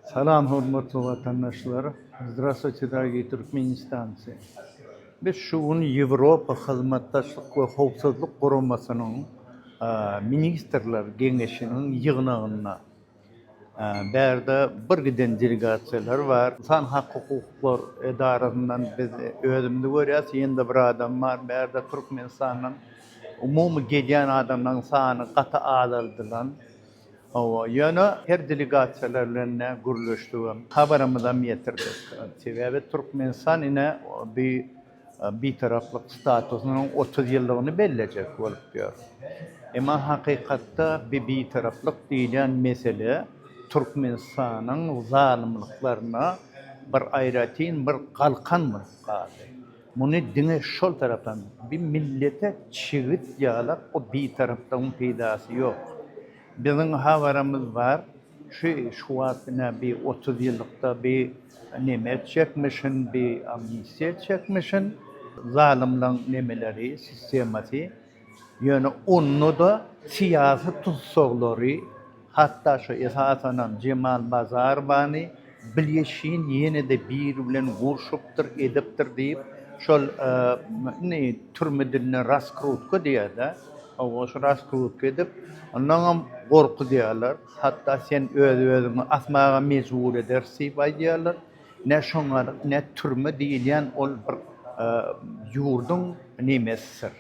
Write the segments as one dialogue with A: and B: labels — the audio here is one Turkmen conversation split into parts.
A: Salam hormatly watandaşlar! Zdrastwuyte dorogiý Türkmenistancy! Biz şu gün Ýewropa Hyzmatdaşlyk we Howpsuzlyk Guramasynyň Ministrler Geňeşiniň ýygnagynda. Bärde bir giden delegasiýalar bar. Ynsan hak hukuklar edarasyndan biz özümizi görýäs, ýene-de bir adam bar. Bärde Türkmenistandan umumy gelýän adamlaryň sany gaty azaldylan. Hawa, ýöne her delegasiýalar bilen ne gürleşdigem, habarymyzam ýetirdik. Sebäbi Türkmenistan ine bi Bitaraplyk statusynyň otuz ýyllygyny bellejek bolup ýör. Emma hakykatda bi Bitaraplyk diýilýän mesele Türkmenistanyň zalymlyklaryna bir aýratyn bir galkan bolup galdy. Muny diňe şol tarapdan bir millete çigit ýalap bu bitarapdagyň peýdasy ýok. Biziň habarymyz bar şu şu wagt ine bir otuz ýyllykda bir neme etjekmişin bir amnistiýa etjekmişin zalymlaň nemeleri sistemasy. Ýöne onda-da syýasy tussaglary, hatda şu esasanam Jemal Bazarowany Bilýeşin ýene-de biri bilen gurşupdyr, edipdir diýip, şol indi türme dilinde raskrutka diýer-dä, hawa, şu raskrutka edip, ondanam gorkuzýarlar, hatda sen öz-özüňi asmaga mejbur ederis diýip aýdýarlar. Ne şoňar ne türme diýilýän ol bir ýurduň nemesidir,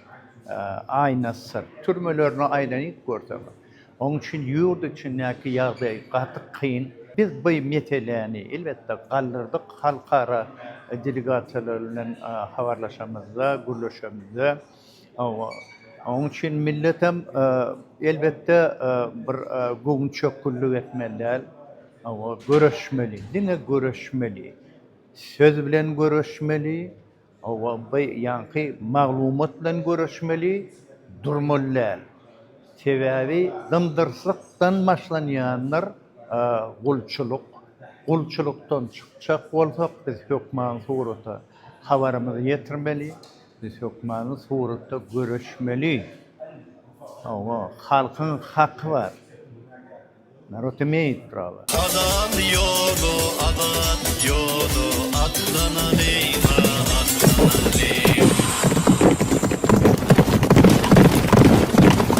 A: aýnasydyr. Türmelerine aýlanyp görseňiz. Oň üçin ýurt içindäki ýagdaý gaty kyn. Biz bu meseläni elbetde galdyrdyk halkara delegasiýalary bilen habarlaşamyzda, gürleşemizde. Hawa, oň üçin millet hem, elbetde, bir göwünçökgünlik etmeli däl. Hawa, göreşmeli, diňe göreşmeli. Söz bilen göreşmeli, hawa, bu ýaňky maglumat bilen göreşmeli, durmaly däl. Sebäbi dyndyrsakdan başlanýandyr gulçulyk. Gulçulykdan çykjak bolsak, biz hökman surata habarymyzy ýetirmeli. Biz hökmany suratda göreşmeli. Hawa, halkyň haky bar. Narod imeýt
B: prava. Azat ýoly, azat ýoly, atlanalýyň-a, atlanalýyň.